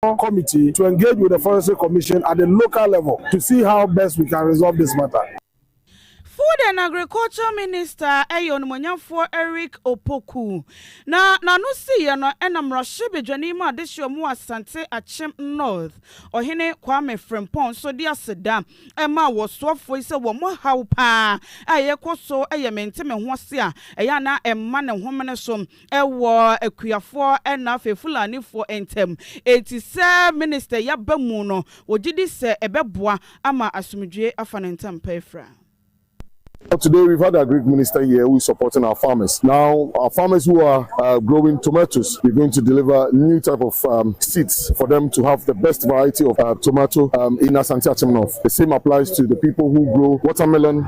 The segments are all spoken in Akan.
National Committee to engage with the Forestry Commission at the local level to see how best we can resolve this matter. Food and Agriculture Minister yɛ Onimuonyamfoɔ Eric Opoku, na n'ano siiɛ no na Mmarahyɛbadwani ma Adehyeɛ mu wɔ Asante Akyem North, Ɔhene Kwame Frimpong nso de aseda maa wɔsoafoɔ yi sɛ wɔn haw pa ara a ɛrekɔ so yɛ mente-me-ho-ase a ɛyɛ a na ɛmma ne homene so. wɔ akuafoɔ na afei Fulanifoɔ ntam. Enti sɛ Minister yi aba mu no, wɔgye di sɛ ɛbɛboa ama asomdwoeɛ afa ne ntam pɛɛfraa. But today we've had a Greek minister here who is supporting our farmers. Now our farmers who are uh, growing tomatoes, we're going to deliver new type of um, seeds for them to have the best variety of uh, tomato um, in Asante Achim North. The same applies to the people who grow watermelon,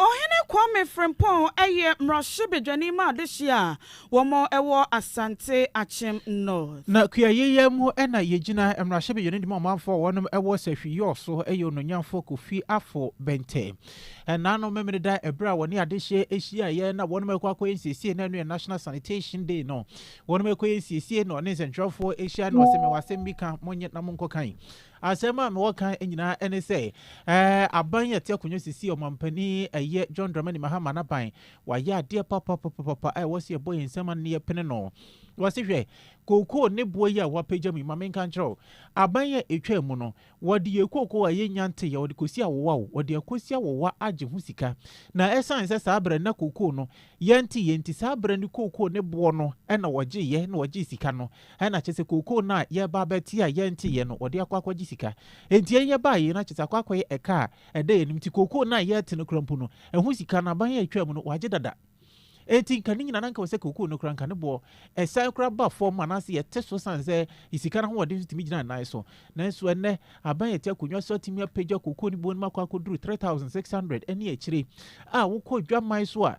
Ɔhene Kwame Frimpong yɛ mmarahyɛbadwani ma adehye a wɔn wɔ Asante Akyem North. Na kuayɛ yi mu na yɛgyina mmarahyɛbadwani de ma ɔmanfoɔ a wɔnom wɔ Sahwi Yɔɔ so yɛ Ononyanfoɔ Kofi Afo Bente. Ɛnanom Memeneda ɛberɛ a wɔne adehye hyiaeɛ na wɔnom rekɔ akɔyɛ nsiesie na ɛno yɛ National Sanitation Day no wɔnom rekɔyɛ nsiesie na ɔne nsɛntwerɛfoɔ hyia na ɔse mewɔ asɛm bi ka monyɛ na monkɔ kan Asɛm a mewɔ ka nyinaa ne sɛ, aban yi a ɛte akonnwa sisi, ɔmampanin ɛyɛ John Dramani Mahama n'aban, wɔayɛ adeɛ papapapapa a ɛwɔ sɛ yɛbɔ yɛn nsam ano na yɛpene no. Wɔse hwɛ, kookoo ne boɔ yi a wɔapagya mu yi, ma menka nkyerɛ wo, aban a ɛtwaa mu no, wɔde yɛn kookoo a yɛnnya nteeɛ, wɔde kɔsi awowa o, wɔde akɔsi awowa agye ho sika. Na ɛsiane sɛ saa berɛ no na kookoo no yɛnteeɛ nti, saa berɛ no kookoo ne boɔ no na wɔgyeeɛ na wɔgyee sika no. Ɛna kyerɛ sɛ kookoo no a yɛreba abɛte a yɛnteeɛ no, wɔde akɔ akɔgye sika. Enti yɛn yɛbaa yei no, kyerɛ sɛ akɔ akɔyɛ ɛka a ɛda yɛn anim. Nti kookoo no a yɛrete no koraa mpo no, ɛho sika no, aban a ɛtwaa mu no, wɔagye dada. Enti nka ne nyinaa no, anka wɔ sɛ kookoo no koraa, anka ne boɔ ɛsan koraa ba fam anaasɛ yɛte so sane sɛ sika no ahoɔden nso tumi gyina ne nan so. Nanso ɛnnɛ, aban a ɛte akonnwa so atumi apagya kookoo no boɔ no mu akɔ akɔduru 3600 ne akyire. A wokɔ dwaman so a,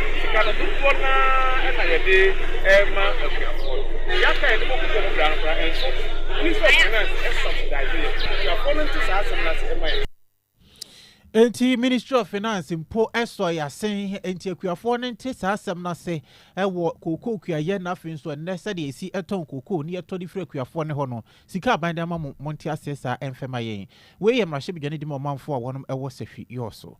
Sika no dodoɔ no ara na yɛde rema asuafoɔ no. Yɛaka a yɛde bɔ kukuo no bra no koraa ɛnso. Wonim sɛ finance subsidize yɛn. Asuafoɔ no nte saa asɛm no ase mma yɛn. Enti Ministry of Finance mpo sɔ yɛn asen. Enti akuafoɔ no nte saa asɛm no ase wɔ kookoo kuayɛ na afei nso ɛnnɛ sɛdeɛ yɛsi tɔn kookoo na yɛtɔ de firi akuafoɔ no hɔ no, sika a aban de ama mo, monte aseɛ saa ɛmfa mma yɛn. Wei yɛ mmarahyɛbadwa no de ma ɔmanfoɔ a wɔnom wɔ sahwi yɔɔ so.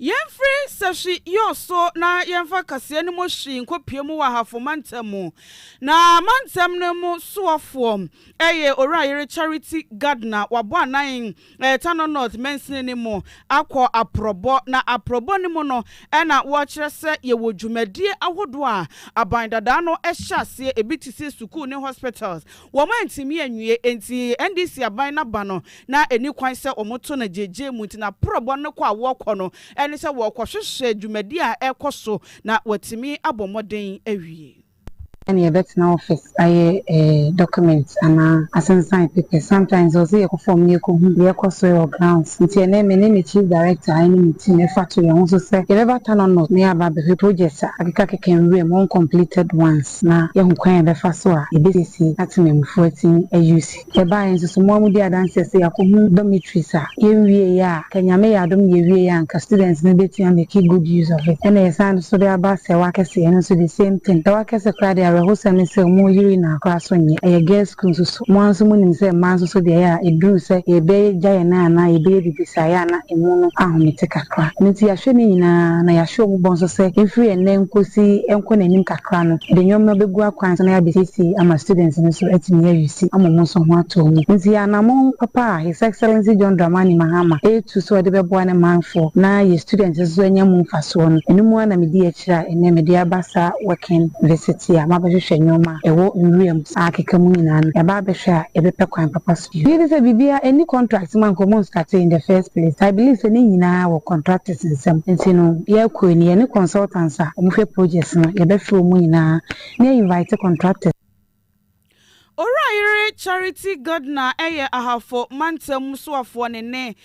Yɛmfiri sahwi yɔ so na yɛmfa kaseɛ no mu hwi nkɔpue mu wɔ Ahafo mantam mu. Na mantam no mu soɔfoɔ yɛ Owura Ayere Charity Gardner, wabɔ anan Tano North mansini no mu akɔ Aprɔbɔ, na Aprɔbɔ no mu no na wɔkyerɛ sɛ yɛwɔ dwumadie ahodoɔ a aban dadaa no hyɛ aseɛ, ɛbi te sɛ sukuu ne hospitals. Wɔantumi anwie, enti NDC aban no aba no, na ɛnni kwan sɛ wɔto no gyegyeɛ mu, nti na prɔbɔ no kɔ a wɔkɔ no ne sɛ wɔrekɔhwehwɛ dwumadie a ɛrekɔ so na wɔatumi abɔ mmɔden awie. Sɛnea yɛbɛtena office ayɛ eh documents anaa asensan papers sometimes ɔse yɛkɔ fam na yɛkɔhu deɛ ɛkɔ so wɔ grounds nti ɛnɛ me ne me chief director ɛne me team ɛfa to yɛn ho so sɛ yɛbɛba Tano North na yɛaba abɛhwɛ projects a akekakeka nwura mu uncompleted ones. na yɛahu kwan a yɛbɛfa so a yebesiesie atemamufoɔ atim ayiw si. Ɛbae nso so, mmoa mu dii adanseɛ sɛ yɛakɔhu dormitories a yɛnwieeɛ a ka Nyame yɛ adom na yɛwieeɛ a anka students no bɛtumi a make good use of it. Ɛna yɛsan de so de aba Sɛwa Akɛse, ɛno nso the same thing. Sɛwa Akɛse koraa deɛ awerɛhosɛm ne sɛ wɔn yiri no ara koraa so nyɛ, ɛyɛ girls school nso so. Mo ara nso monim sɛ mmaa nso so deɛ, ɛyɛ a ɛduru sɛ yɛbɛgya yɛn nan anaa yɛbɛyɛ biribi saa, ɛyɛ a na emu no ahomete kakra. Ɛno nti yɛahwɛ ne nyinaa, na yɛahyɛ wɔn bɔ nso sɛ ɛmfiri ɛnnɛ nkɔsi ɛnkɔ n'anim kakra no, yɛde nneɛma bɛgu akwan so na yɛabɛsiesie ama students no nso atumi awiisi ama wɔn nso ho atɔ wɔn. Nti anammɔn papa a His Excellency John Dramani Mahama retu sɛ ɔde bɛboa ne manfoɔ na yɛn students nso so anya mu mfasoɔ no, ɛno mu ara na medi akyire a ɛnnɛ mede aba saa working visit yi a mabɛhwehwɛ nneɛma ɛwɔ nwura mu saa akeka mu nyinaa no ɛba abɛhwɛ a yɛbɛpɛ kwan papa so bio. Megye di sɛ biribiara nni contract mu a nka wɔn startee in the first place. I believe sɛ ne nyinaa wɔ contractors nsam nti no yɛkɔ yi no yɛne consultants a wɔn hwɛ projects no yɛbɛfrɛ wɔn nyinaa na yɛ invite contractors. Owura Yere Charity Gardner yɛ Ahafo mantam soafoɔ ne ne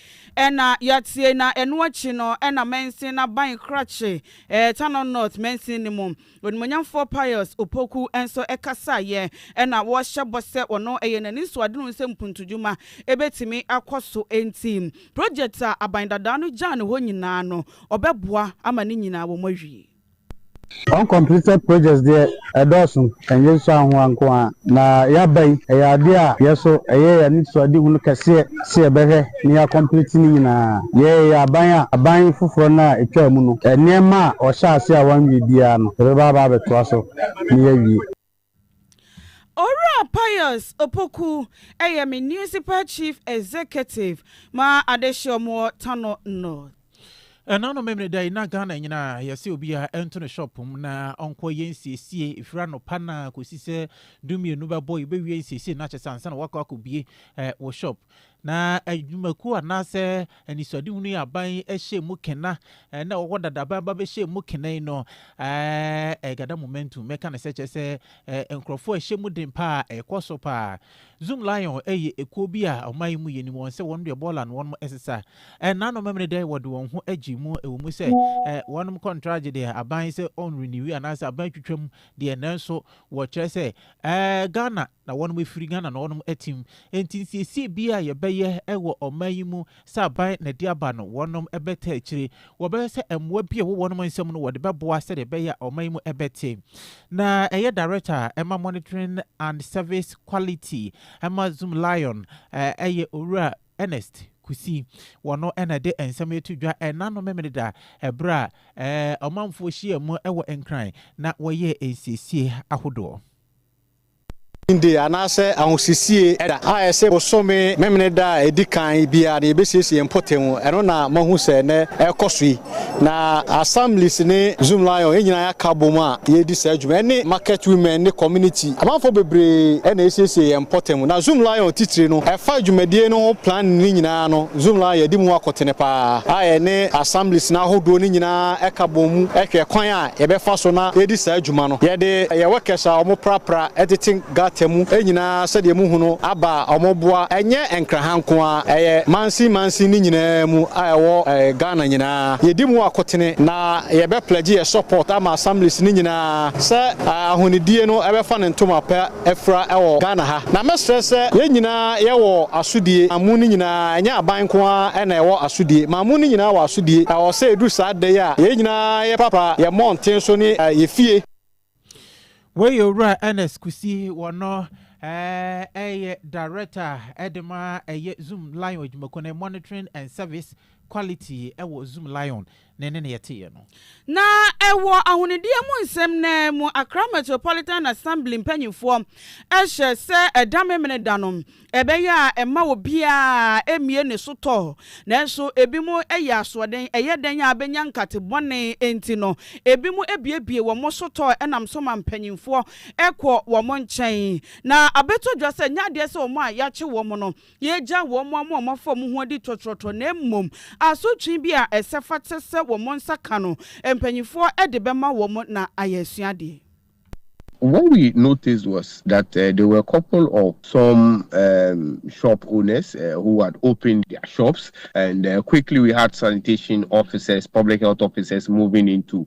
na yɛatie na ɛno akyi no na mansin aban krakye Tanor North mansin no mu Onimuonyamfoɔ Pius Opoku nso kasaeɛ ɛna wɔhyɛ bɔ sɛ ɔno ɛyɛ n'ani so ade no sɛ mpuntudwuma ɛbɛtumi akɔ so nti project a aban dadaa no gyaa no hɔ nyinaa no ɔbɛboa ama ne nyinaa wɔn awie. Uncompleted projects deɛ ɛdɔɔso, ɛnyɛ nsuahoa nko ara na yɛaba yi, ɛyɛ adeɛ a yɛso ɛyɛ yɛn anisoadehunu kɛseɛ. sɛ yɛbɛhwɛ na yɛakɔmplete ne nyinaa. Yɛyɛ aban a, aban foforɔ no a ɛtwaa mu no, nneɛma a wɔhyɛɛ aseɛ a wɔanwie biara no, yɛbɛba aba abɛtoa so na yɛawie. Owura Pius Opoku yɛ Municipal Chief Executive ma Adehyeom wɔ Tano North. Ɛna no memene da yi na Ghana nyinaa yɛsɛ obiara ɛnto ne shop mu na ɔnkɔ yɛ nsiesie ɛfiri anɔpa na kɔsi sɛ dumienu bɛbɔ yɛbɛwie nsiesie no akyɛ sɛ ansa na wakɔ akɔbie eh, wɔ shop na adwumakuo eh, anaasɛ anisoadehunu yɛ aban ɛhyɛ mu kena eh, na wɔwɔ dadaban ba bɛhyɛ mu kena yi no eh, ɛgada momentum mɛka ne sɛ kyɛ sɛ eh, nkurɔfoɔ ɛhyɛ mu den paa ɛkɔ so paa Zoom Lion yɛ ekuo bi a ɔman yi mu yɛnim wɔn sɛ wɔnom deɛ bɔɔla no wɔnom ɛsesa. Ɛnnanom memenɛ dɛ wɔde wɔn ho agye mu ɛwɔ mu sɛ wɔnom kɔntragye deɛ aban sɛ ɔn riniwi anaasɛ aban atwitwa mu deɛ nanso wɔkyerɛ sɛ Ghana na wɔnom ɛfiri, Ghana na wɔnom ɛtem. Ɛnti nsiesie biaa yɛbɛyɛ ɛwɔ ɔman yi mu Sɛ aban na ɛde aba no, wɔnom bɛtaa akyire. Wɔbɛhwɛ sɛ mmoa bi a ɛwɔ wɔnom nsam no wɔde bɛboa sɛdeɛ ɛbɛyɛ a ɔman mu bɛte. Na ɛyɛ Director ɛma Monitoring and Service Quality ɛma Zoomlion ɛyɛ Owura Ernest Kusi. Wɔno na ɛde nsɛm yi to dwa ɛna no Memeneda ɛberɛ a ɔmanfoɔ hyiaa mu wɔ Nkran na wɔyɛɛ nsiesie ahodoɔ. Din de anaasɛ ahosisie da a ɛse bosome Memeneda a ɛdi kan biara no yɛbɛsiesie yɛn mpɔtam. Ɛno na moahu sɛ nnɛ ɛrekɔ so yi. Na Assemblies ne Zoomlion yɛn nyinaa yɛaka abom a yɛredi saa dwuma. Ɛne Market Women ne Community amanfoɔ bebree na yɛsiesie yɛn mpɔtam. Na Zoomlion titire no, ɛfa dwumadie no ho planning no nyinaa no, Zoomlion yɛadi mu akotene pa ara a yɛne Assemblies no ahodoɔ no nyinaa ka bom hwɛ kwan a yɛbɛfa so na yɛadi saa dwuma no. Yɛde yɛn workers a wɔprapra tete gutter mu nyinaa sɛdeɛ mohu no aba a wɔboa, ɛnyɛ Nkraha nko ara, ɛyɛ mansin mansin no nyinaa mu a ɛwɔ Ghana nyinaa. Yɛdi mu akotene na yɛbɛ pledge yɛn support ama assemblies no nyinaa sɛ ahonidie no bɛfa ne ntoma pa afira wɔ Ghana ha. Na mɛsrɛ sɛ yɛn nyinaa yɛwɔ asodie ma mu no nyinaa, ɛnyɛ aban nko ara na ɛwɔ asodie ma mu no nyinaa wɔ asodie. Ɛwɔ sɛ ɛduru saa da yi a yɛn nyinaa yɛpapa yɛn mmɔnten so ne yɛn fie. Wei yɛ Owura Ernest Kusi, wɔno yɛ Director de ma ɛyɛ Zoom Lion adwumakuo no, Monitoring and Service Quality wɔ Zoom Lion. ne ne nea ɛteɛ no. Na ɛwɔ ahonideɛ mu nsɛm no ara mu, Accra Metropolitan Assembly mpanimfoɔ hyɛ sɛ ɛda Memeneda no, ɛbɛyɛ a ɛmma obiara mmue ne so tɔ. Nanso ebinom yɛ asoɔden, ɛyɛ dɛn a bɛnya nkate bɔne nti no, ebinom buebue wɔn so tɔ nam so ma mpanimfoɔ kɔ wɔn nkyɛn. Na abɛtɔ dwa sɛ ɛnyɛ adeɛ sɛ wɔn a yɛakye wɔn no Yɛagyaw wɔn a wɔafa wɔn ho adi tɔtrɔtɔ na mmom asotwe bi a ɛsɛ fata sɛ wɔn nsa ka no, mpanimfoɔ de bɛma wɔn na ayɛ asuadeɛ. What we noticed was that there were a couple of some um shop owners uh, who had opened their shops and uh, quickly we had sanitation officers, public health officers moving into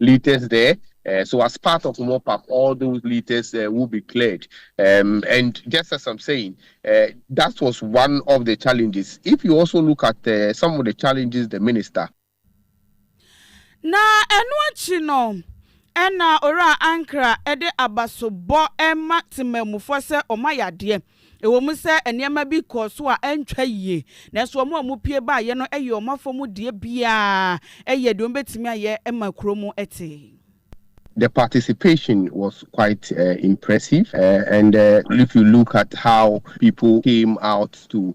litres there uh, so as part of mop up all those litres uh, will be cleared um, and just as i'm saying uh, that was one of the challenges if you also look at uh, some of the challenges the minister na ɛno akyi no ɛna owura ankara ɛde abasobɔ ɛma temammufoɔ sɛ ɔma yadeɛ Ɛwom sɛ nneɛma bi kɔɔ so a antwa yiye, nanso wɔn a wɔpue baeɛ no yɛɛ wɔn afɔmudeɛ biara yɛɛ deɛ wɔbɛtumi ayɛ ma kuro mu tee. The participation was quite impressive and if you look at how people came out to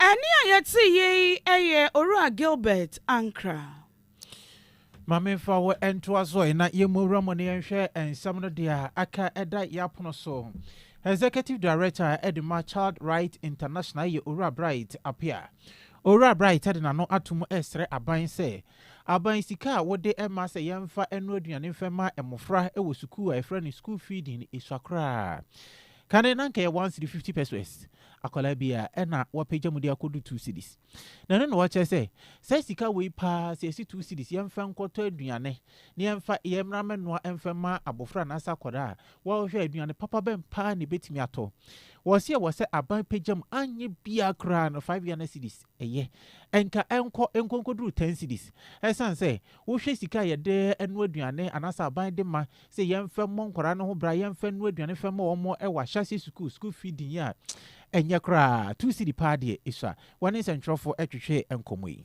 Ɛnne a yɛte yi yɛ Owura Gilbert Ankrah. Ma memfa wo ntoa so na yɛmmɔ wura mu na yɛnhwɛ nsɛm no deɛ aka ɛda yɛn apono so. Executive Director de ma Child Rights International yɛ Owura Bright Appiah. Owura Bright de n'ano ato mu resrɛ aban sɛ, aban sika a wode ma sɛ yɛmfa nnoa aduane mfa mma mmofra wɔ sukuu a yɛfrɛ no school feeding sua koraa. Kane na anka ɛyɛ one cedi fifty pesoes, akwadaa bi a ɛna wapagya mu de akɔdu two cedis. Na ɛno na wɔkyerɛ sɛ, saa sika wei paa sɛ ɛsi two cedis, yɛmfa nkɔtɔ aduane na yɛmfa yɛn mmara mmɛnoa mfa mma abɔfra anaasɛ akwadaa a, wɔhwɛ aduane papa bɛn paa na ɛbɛtumi atɔ. Wɔseɛ wɔ sɛ aban pagya mu, anyɛ biara koraa no five Ghana cedis. Ɛyɛ. Ɛnka ɛnkɔ nko nkɔduru ten cedis. Ɛsiane sɛ, wohwɛ sika a yɛde noa aduane anaasɛ aban de ma sɛ yɛmfa mmɔ nkwadaa no ho bra, yɛmfa nnoa aduane mfa mma wɔn wɔ ahyɛaseɛ sukuu, school feeding, yi a, ɛnyɛ koraa. Two cedi paa deɛ, esua. Wɔne nsɛntwerɛfoɔ twetwee nkɔmmɔ yi.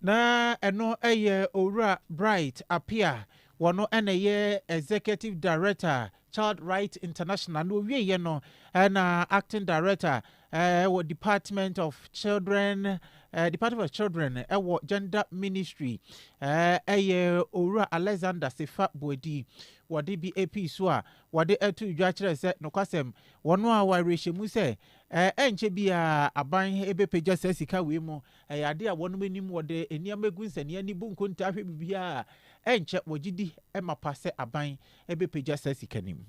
Na ɛno yɛ Owura Bright Appiah, wɔn na ɛyɛ Executive Director Child Rights International, na owieɛ no na Acting Director wɔ Department of Children Department of Children wɔ Gender Ministry yɛ Owura Alexander Sefa Boadi. Wɔde bi pii so a wɔde to dwa kyerɛ sɛ nokwasɛm wɔn a wɔawerɛhyɛmu sɛ Ɛrenkyɛ biara aban bɛpagya saa sika wei mu. Ɛyɛ ade a wɔnom anim wɔde nneɛma agu nsania ani bu nkontaa hwɛ biribiara a, ɛrenkyɛ wɔgye di mapa sɛ aban bɛpagya saa sika no mu.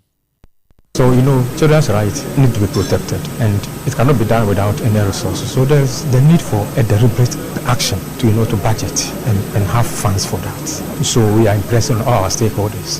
So you know children's right need to be protected and it cannot be done without any resources so there is the need for a deliberate action to you know to budget and and have funds for that so we are impressing on all our stakeholders.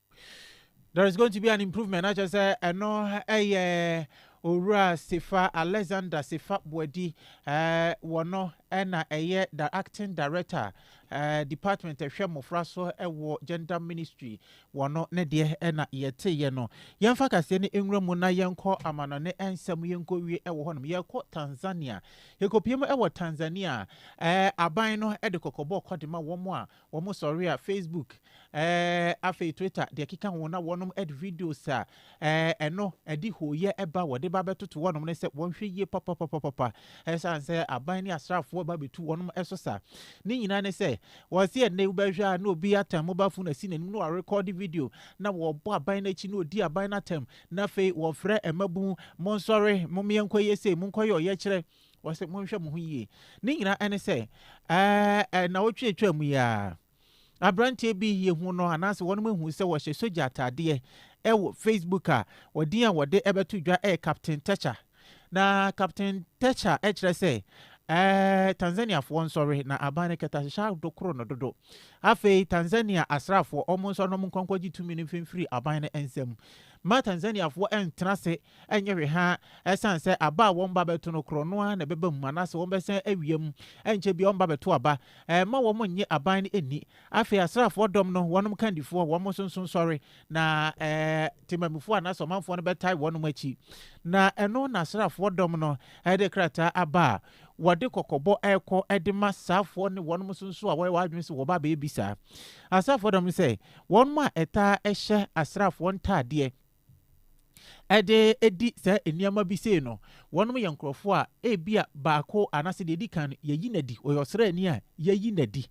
There is going to be an improvement na kyerɛ sɛ ɛno yɛ Owura Sefa Alexander Sefa Boadi eh, wɔno na ɛyɛ the acting director eh, department ɛhwɛ mmɔfra so wɔ gender ministry wɔno ne deɛ na yɛteeɛ no. Yɛmfa kaseɛ no nwura mu na yɛnkɔ amanɔne nsɛm yɛnkɔ wie wɔ hɔnom. Yɛkɔ Tanzania, yɛkɔpie mu wɔ Tanzania eh, aban no de kɔkɔbɔ kɔde ma wɔn a Wɔn sɔre a Facebook, eh, afei Twitter de ɛkeka ho na wɔnom ɛde videos a, eh, ɛno ɛde hooyɛ ɛba wɔde ba bɛtoto wɔnom ne sɛ wɔnhwɛ yie papapapapa ɛsiane sɛ aban ne asraafoɔ ba bɛtu wɔnom ɛso sa. Ne nyinaa ne sɛ wɔse ɛnnɛ wobɛhwɛ a na obi atan mobile phone asi n'anim na wɔrekɔde video na wɔbɔ aban no akyi na ɔdi aban no atam na afei wɔfrɛ mmabun monsɔre mommeɛnkɔyɛ sei monkɔyɛ ɔyɛkyerɛ Wɔse monhwɛ mo ho yie. Ne nyinaa ne sɛ, ɛɛ nnawɔtwe a atwaa mu yi ara, aberanteɛ bi yɛhu no anaasɛ wɔnom ahu sɛ wɔhyɛ sogya ataadeɛ ɛwɔ Facebook a wɔdin a wɔde ɛbɛto dwa ɛyɛ Captain Techa. Na Captain Techa ɛkyerɛ sɛ ɛɛ Tanzaniafoɔ nsɔre na aban no kɛtɛ ahyehyɛ adokoro no dodo. Afei Tanzania asraafoɔ wɔn nsɔre na wɔn nkɔ nkɔgye tumi no mfimfiri aban no nsam. Mma Tanzaniafoɔ ɛntena ase Ɛnyɛ hwehwaa, ɛsiane sɛ aba a wɔn ba bɛto no korɔ no ara na ɛbɛba mu anaasɛ wɔbɛsan awia mu. Ɛnkyɛ biara wɔn ba bɛto aba. Ɛmma wɔn nnye aban no nni. Afei asraafoɔ dɔm no, wɔnom kandifoɔ, wɔn nso nso sɔre, na temammufoɔ anaasɛ ɔmanfoɔ no bɛtae wɔnom akyi. Na ɛno na asraafoɔ dɔm no de krataa aba a wɔde kɔkɔbɔ rekɔ de ma saafoɔ ne wɔnom nso nso a wɔyɛ wɔn adwene sɛ wɔba abɛbisa asraafoɔ dɔm no sɛ, Wɔnom a ɛtaa hyɛ asraafoɔ ntaadeɛ, de di saa nneɛma bi sei no, wɔnom yɛ nkurɔfoɔ a ebia baako anaasɛ deɛ ɛdi kan no yɛyi no adi, ɔyɛ ɔsraani a yɛyi no adi.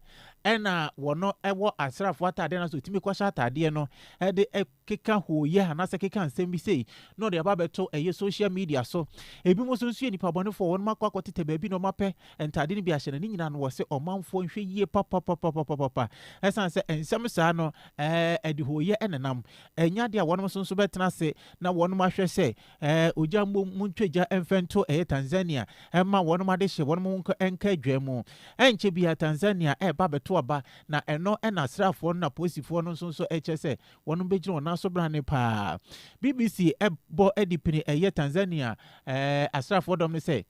Ɛna wɔno wɔ asraafoɔ ataadeɛ anaasɛ ɔtumi kɔhyɛ ataadeɛ no de keka hooyɛ anaasɛ keka nsɛm bi sei na ɔde aba abɛto ɛyɛ social media so. Ebi mu nso nso yɛ nipa bɔnefoɔ, wɔnom akɔ akɔtetɛ baabi na wɔn apɛ ntaadeɛ no bi ahyɛ no, ne nyinaa no wɔ se ɔmanfoɔ nhwɛ yie papapapapapapa. Ɛsan sɛ nsɛm saa no ɛde hooyɛ nenam. Ɛnyɛ ade a wɔnom nso nso bɛtena ase na wɔnom ahwɛ sɛ ɛɛ ogya mmom mu ntwa gya mfɛ nto ɛyɛ Tanzania ɛmma wɔnom ade hyɛ wɔnom ho nka ɛnka adwa mu. Ɛnkyɛ biara Tanzania ɛɛba abɛto aba na ɛno ɛna asraafoɔ no na polisifoɔ no nso nso ɛkyerɛ sɛ wɔnom bɛgyina wɔn nan so brane paa. BBC ɛbɔ adipini ɛyɛ Tanzania ɛɛ asraafoɔ dɔm no sɛ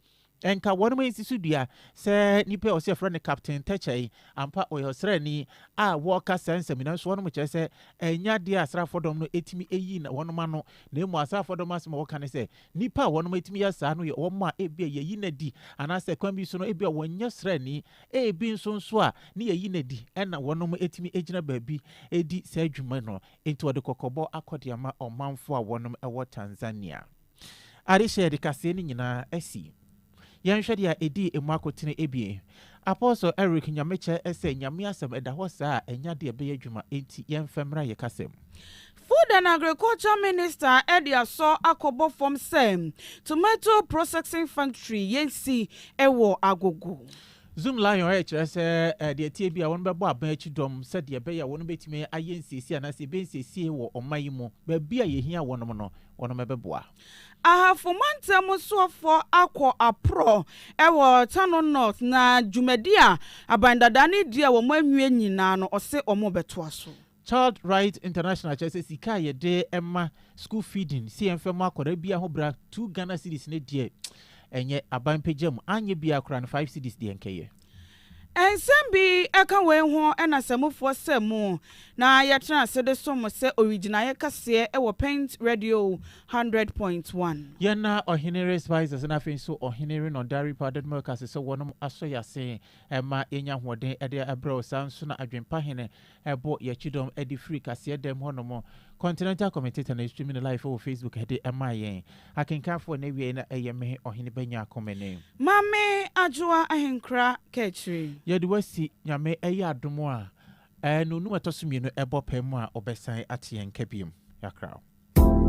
Nka wɔnom ansi so dua. Sɛ nipa a ɔse yɛfrɛ no Captain Tɛkyɛe, ampa ɔyɛ ɔsraani a wɔka saa nsɛm yi, nanso wɔnom kyerɛ sɛ ɛnyɛ adeɛ a asraafoɔ dɔm no tumi yi na wɔnom ano, na mmom asraafoɔ dɔm no asɛm a wɔka ne sɛ, nipa a wɔnom tumi yɛ saa no yɛ wɔn a ebia yɛyi no adi, anaasɛ kwan bi so no ebia wɔnyɛ sraani, ebi nso nso a ne yɛyi no adi na wɔnom tumi gyina baabi di saa dwuma no. Enti wɔde kɔkɔbɔ akɔ de ama ɔmanfoɔ a wɔnom wɔ Tanzania. Adehyeɛ de kaseɛ no nyinaa asi. Yɛnhwɛ deɛ a ɛdii ɛmu akotene abien. Apostle Eric Nyamekyɛ sɛ Nyame asɛm ɛda hɔ saa a ɛnya deɛ ɛbɛyɛ adwuma enti yɛmfa mmra yɛ kasam. Food and Agriculture Minister de asɔ akɔbɔ fam sɛ Tomato Processing Factory yɛnsi wɔ Agogo. Zoom Lion rekyerɛ sɛ deɛ ɛteɛ bi a wɔn bɛbɔ aban akyi dɔm sɛdeɛ ɛbɛyɛ a wɔn bɛtumi ayɛ nsiesie anaasɛ yɛbɛyɛ nsiesie wɔ ɔman yi mu baabi a yɛhia wɔnom no wɔnom bɛboa. Ahafo mantam soafoɔ akɔ aporɔ wɔ Tano North na dwumadi a aban dadaa no redi a wɔn anwie nyinaa no ɔse wɔn rebɛtoa so. Child Right International kyerɛ sɛ sika a yɛde ma school feeding sɛ yɛmfa mu akwadaa biara ho bra two Ghana cedis no deɛ ɛnyɛ aban pagya mu anyɛ biara koraa no five cedis deɛ nkɛyɛ. Nsɛm bi ka wei ho na sɛ mofoɔ sɛ mo na yɛtena ase de som mo sɛ owigyinaeɛ kɛseɛ wɔ Pent Radio hundred point one. Yɛn na Ɔhene Respisas na afei nso Ɔhene Rinodaripa Dadmurkase sɛ wɔnom asɔ yɛn ase ma yɛnya ahoɔden de abrɛ wo, saa ara nso na Adwempa Hene Ɛbɔ yɛ kyidɔm ɛde firi kaseɛ dɛm hɔ nom. Continental commentator na ɛstreami no live wɔ Facebook ɛde ɛmaa yɛn akenkanfoɔ na ɛwiɛɛ na ɛyɛ me Ɔhene Banyako Mene. Maame Adwoa Ahenkra Kaakyire. Yɛde wo asi Nyame ɛyɛ adom a ɛɛ no num ɛtɔ so mmienu ɛbɔ pɛɛ mu a ɔbɛsan ate yɛn nka biom. Yɛakra wo.